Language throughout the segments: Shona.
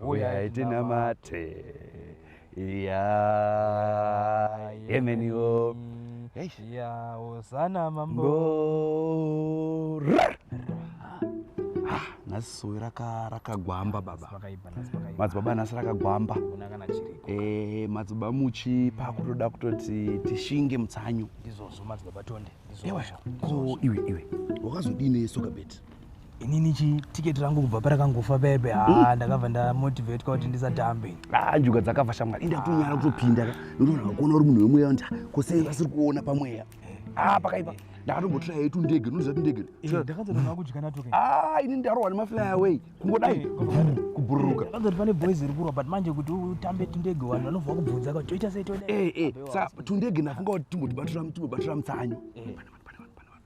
huyai tinamate ya yemeniwo ya hosana mambo nhasi sowe rakagwamba baba madzibaba nhasi rakagwamba eh, madzibaba muchi pakutoda kutoti tishinge mutsanyu ko iwe iwe wakazodii nesoka beti inini chi ticket rangu kubva parakangofa bebe ha mm. ndakabva ndamotivate kwa kuti ndisatambe ha njuga dzakabva shamwari enda kunyara kutopinda ka ndoona kuona uri munhu wemweya nda kosei vasiri kuona pamweya ha pakaipa ndakatombotraya yetu ndege ndoziva kuti ndege eh, ndakatoona kudya natoke ha ini ndarohwa nemafly away kungodai eh, kubhururuka ndakazoti pane boys iri kurwa but manje kuti utambe tundege vanhu vanobva kubvunza kuti toita sei toda eh eh sa tundege ndafunga kuti timbotibatira timbobatira mutsanyo eh.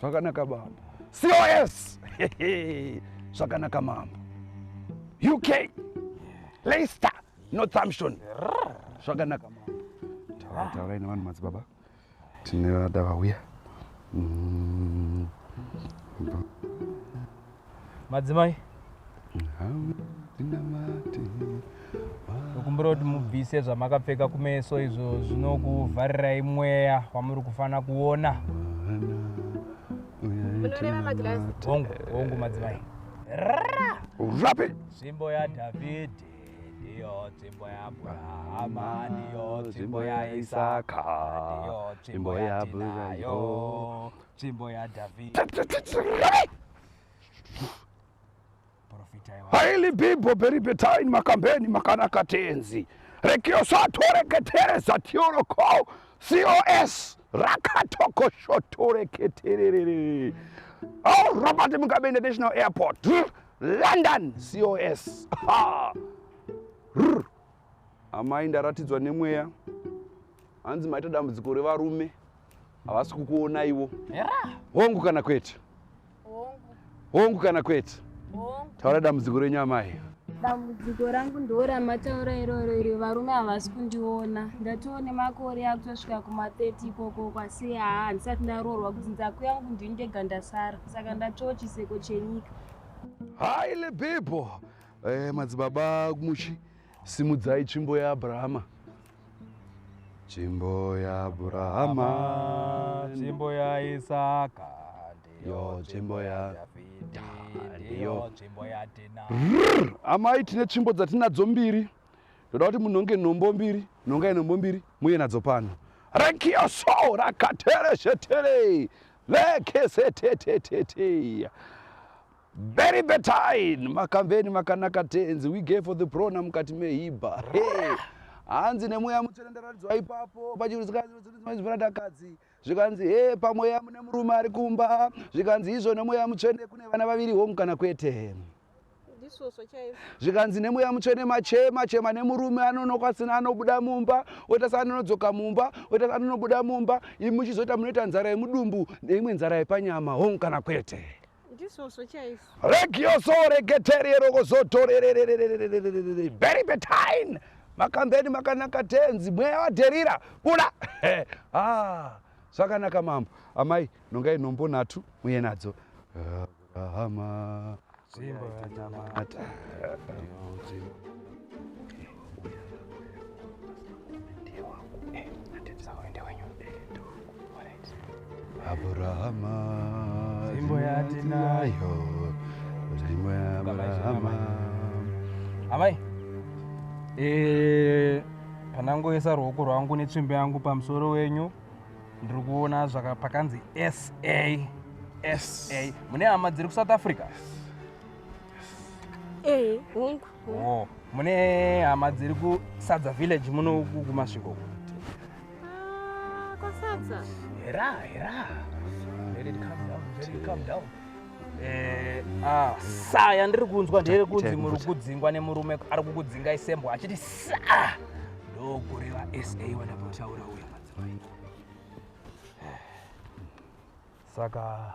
Zvakanaka baba. COS. Zvakanaka mambo. UK. Leicester. Northampton. Zvakanaka mambo. Taura taura ina vanhu madzibaba. Tine vada vauya. Mm. madzimai ndokumbira kuti mubvise zvamakapfeka kumeso izvo zvinokuvharirai mweya wamuri kufanira kuona hongu madzimai urape nzvimbo yadhavhidhi ndiyo nzvimbo yabrahama ndiyo nzvimbo yaisaka ndiyo nzvimbo yatinayo Tsvimbo yaDhavhidhi. Profitai wa- Aili bibho beri betaini makambeni makanaka tenzi. Rekiosaatoreketere zatioro ko COS rakatokoshotoreketerere. Oh, Robert Mugabe International Airport. London COS. Ha. Rr. Amai ndaratidzwa nemweya. Hanzi maita dambudziko revarume. havasi kukuonaiwo hongu kana kwete hongu kana kwete taura dambudziko renyu amai dambudziko rangu ndo ramataura iroro iri varume havasi kundiona ndatiwo nemakore akutosvika kuma30 ikoko kwasi haa handisati ndaroorwa kuti nzaku yangu ndini ndega ndasara saka ndatiwo chiseko chenyika haile bible eh, madzibaba muchi simudzai tsvimbo yaabrahama Tsvimbo yaAbrahama, tsvimbo yaIsaka, ndiyo tsvimbo yaDhavhidha, ndiyo tsvimbo yaDhina. Amai, tine tsvimbo dzatinadzo mbiri. Ndoda kuti munhonge nhombo mbiri, nhongai nhombo mbiri, muye nadzo pano. Rekioso rakatereshetere lekeseteteteteya Very betine makamveni makanaka tenzi we gave for the prona mukati mehiba hey. hanzi nemweya mutsvene ndaratidzwa ipapo pachiruzikazvirakadzi zvikanzi he pamweya mune murume ari kumba zvikanzi izvo nemweya mutsvene kune vana vaviri home kana kwete zvikanzi nemweya mutsvene machema chema nemurume anonoka sina anobuda mumba oita saanonodzoka mumba oita saanonobuda mumba imi muchizoita munoita nzara yemudumbu neimwe nzara yepanyama home kana kwete ndizvozvo chaizvo regioso regeteriyerokozotorerere very betine makambeni makanaka tenzi mweya wadherira buda ah, zvakanaka mambo amai nongai nhombo nhatu muye nadzo abrahama zimbo yanamata Abrahama Zimbo ya tinayo Zimbo ya Abrahama Amai Eh panangoisa ruoko rwangu netsvimbo yangu pamusoro wenyu ndiri kuona zvaka pakanzi sa sa mune hama dziri kusouth africa ee eh, hongu Oh, mune hama dziri kusadza village muno uku kumasvingo uku. Ah, kwasadza. Hera, hera. Let it calm down, let it calm down. Eh, ah, sa yandiri kunzwa ndere kunzi muri kudzingwa nemurume ari kukudzinga isembwa achiti sa ndokureva sa wanapotaura uya madzimai saka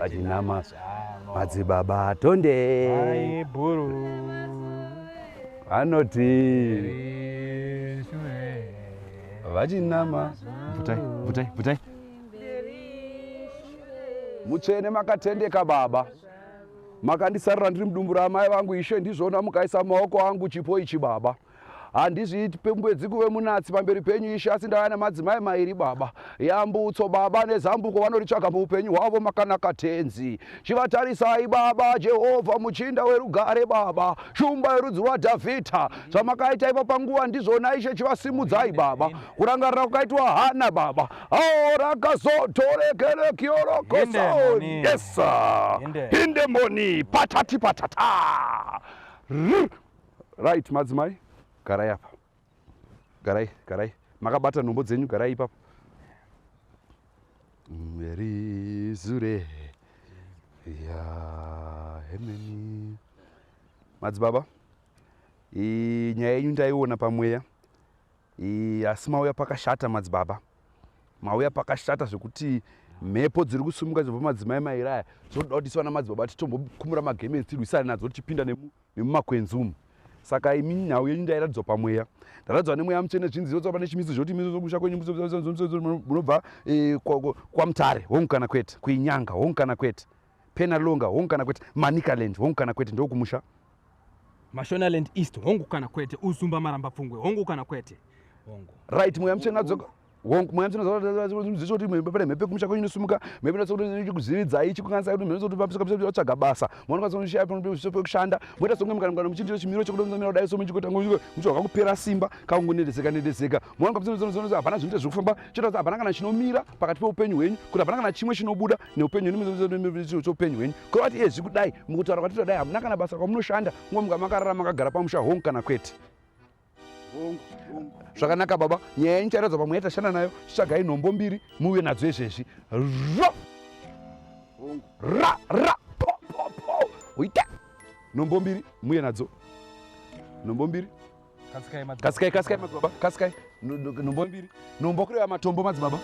vachinama madzibaba tonde vanoti vachinama bvutai bvutai bvutai mutsvene makatendeka baba makandisarira ndiri mudumbu ramai vangu ishe ndizvona mukaisa maoko angu chipo ichi baba handizviiti pembwedzi kuve munatsi pamberi penyu ishe asi ndauya nemadzimai mairi baba yambutso baba nezambuko vanoritsvaga muupenyu hwavo makanaka tenzi chivatarisai baba jehovha muchinda werugare baba shumba yerudzi rwadhavhidha zvamakaita ipa panguva ndizvona ishe chivasimudzai baba kurangarira kwakaitwa hana baba aorakazotorekerekiorokosaonesa indemoni patati patata Right madzimai, garai apa. Garai, garai. Makabata nhombo dzenyu, garai ipapo. Mary Zure. Ya, hemeni. Madzibaba, i nyaya yenyu ndaiona pamweya. I asi mauya pakashata madzibaba. Mauya pakashata zvekuti mhepo dziri kusumuka dzobva madzimai mairaya. Zvoda kuti swana madzibaba titombokumura magemenzi tirwisane nadzo tichipinda nemu nemumakwenzi umu saka imi nhau yenyu ndairatidzwa pamweya ndaratidzwa nemweya mutsvene zvinzi zvotsva pane chimiso zvoti miso zvokusha kwenyu munobva eh, kwamutare hongu kana kwete kuinyanga hongu kana kwete penalonga hongu kana kwete manicaland hongu kana kwete ndokumusha mashonaland east hongu kana kwete uzumba marambapfungwe hongu kana kwete hongu right mweya mutsvene adzoka Hongu mwana tinoziva kuti mhepo pane mhepo kumusha kwenyu inosimuka mhepo inotsa kuti chikuziviridzai chikukanisa kuti mhepo kuti pamisika pamisika otsvaga basa mwana kwanisa kushaya panopeso pekushanda moita songe mukana mukana muchiitira chimiro chekuti mzamira kudai so muchikota muchivaka kupera simba kakungonedeseka nedeseka mwana kwapsinozonozonozo hapana zvinoita zviri kufamba chotaza hapana kana chinomira pakati peupenyu hwenyu kuti hapana kana chimwe chinobuda neupenyu hwenyu choupenyu hwenyu kuri vati ezvi kudai mukutaura kwatitoda dai hamuna kana basa kwamunoshanda ngo muka makarara makagara pamusha hongu kana kwete zvakanaka baba nyaya yenyu chairadzwa pamwe yatashanda nayo chitsvagai nhombo mbiri muuye nadzo izvezvi ro ra ra po po po uite nhombo mbiri muuye nadzo nhombo mbiri kasikai kasikai madzibaba kasikai nhombo mbiri nhombo kureva matombo madzibaba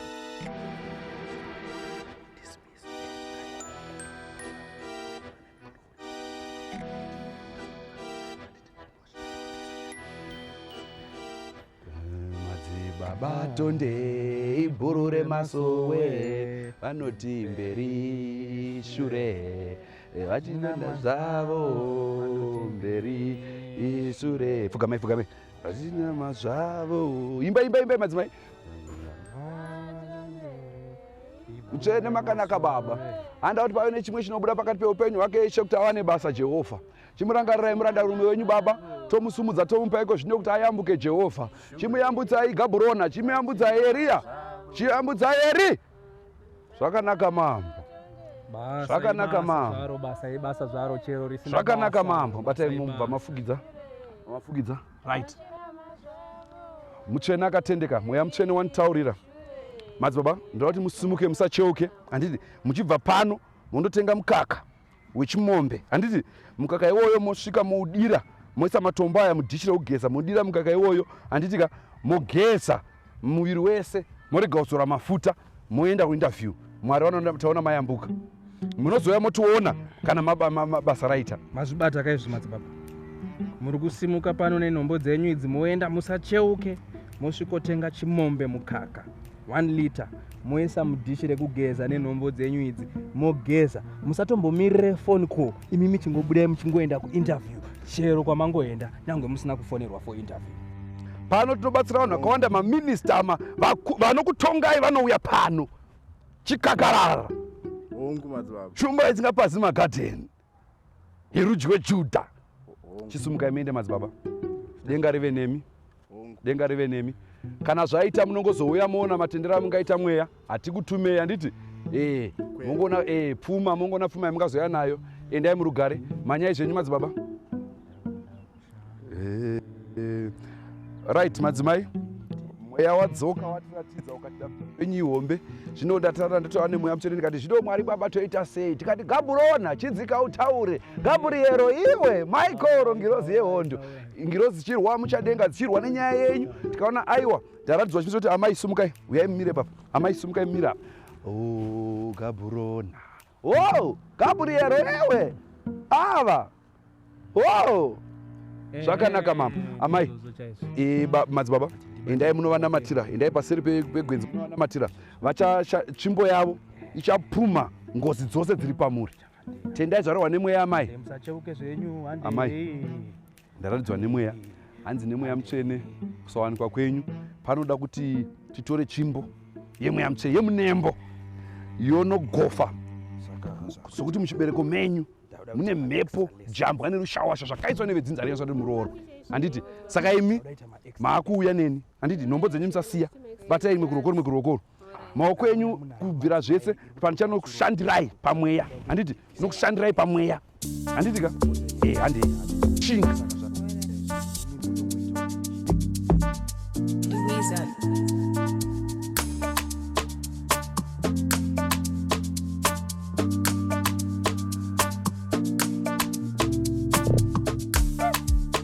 Baba Tonde ibhuru remasowe vanoti mberi shure vachinana zvavo mberi ishure pfugamai pfugamai vachinama zvavo imba imba imba madzimai utsvene makanaka baba handa kuti pave nechimwe chinobuda pakati peupenyu hwake ishe kuti awane basa jehovha chimurangarirai murandarume wenyu baba tomusumudza tomupa iko zvino kuti ayambuke jehovha chimuyambutsai gaburona chimuyambutsai eriya chiyambutsai eri zvakanaka mambo zvakanaka mambo zvakanaka mambo batai mumba mafugidza mafugidza right mutsvene akatendeka mweya mutsvene wanitaurira madzibaba ndoda kuti musimuke musacheuke handiti muchibva pano mondotenga mukaka wechimombe handiti mukaka iwoyo mosvika moudira moisa matombo aya mudhishi rekugeza modira mukaka iwoyo handiti ka mogeza muviri wese morega kuzora mafuta moenda kuinterview mwari vanotaona mayambuka munozouya motiona kana mabasa raita mazvibata kaizvi madzibaba muri kusimuka pano nenombo dzenyu idzi moenda musacheuke mosvikotenga chimombe mukaka 1 liter moisa mudhishi rekugeza nenhombo dzenyu idzi mogeza musatombomirire phone call imi michingobudai muchingoenda kuinterview chero kwamangoenda nyange musina kufonerwa for interview pano tinobatsira vanhu vakawanda maminista ma vanokutongai vanouya pano chikakarara shumba isingapazi magadheni yerudyi wejudha chisumukai muende madzibaba denga rive nemi denga rive nemi kana zvaita munongozouya moona matendero amungaita mweya hatikutumei handiti ee mongoona ee pfuma mongoona pfuma yamungazoya nayo endai murugare manyai zvenyu madzibaba eh, right madzimai mweya wadzoka watiratidza ukatida penyu ihombe zvino ndatara ndatova nemweya mutsvene ndikati zvino mwari baba toita sei tikati gaburona chidzika utaure gabriero iwe maikoro ngirozi yehondo ngirozi dzichirwa muchadenga dzichirwa nenyaya yenyu tikaona aiwa ndaratidzwa chimisa kuti amai sumukai uyai mumire papa amai sumukai mumire apa o oh, gaburona Hoo, Gabriel ewe ava hoo zvakanaka mama amai madzibaba endai munovanamatira endai paseri pegwenzi munovanamatira vachatsvimbo yavo ichapuma ngozi dzose dziri pamuri tendai zvarohwa nemweya amai amai ndaratidzwa nemweya hanzi nemweya mutsvene kusawanikwa kwenyu panoda kuti titore tsvimbo yemweya mutsvene yemunembo yonogofa sokuti muchibereko menyu mune mhepo jambwa nerushawasha zvakaiswa nevedzinza renyu zvati muroorwa handiti saka imi maakuuya neni handiti nhombo dzenyu musasiya batai imwe kurokoro imwe kurokoro maoko enyu kubvira zvese panicha nokushandirai pamweya handiti nokushandirai pamweya handiti ka e eh, handi chinga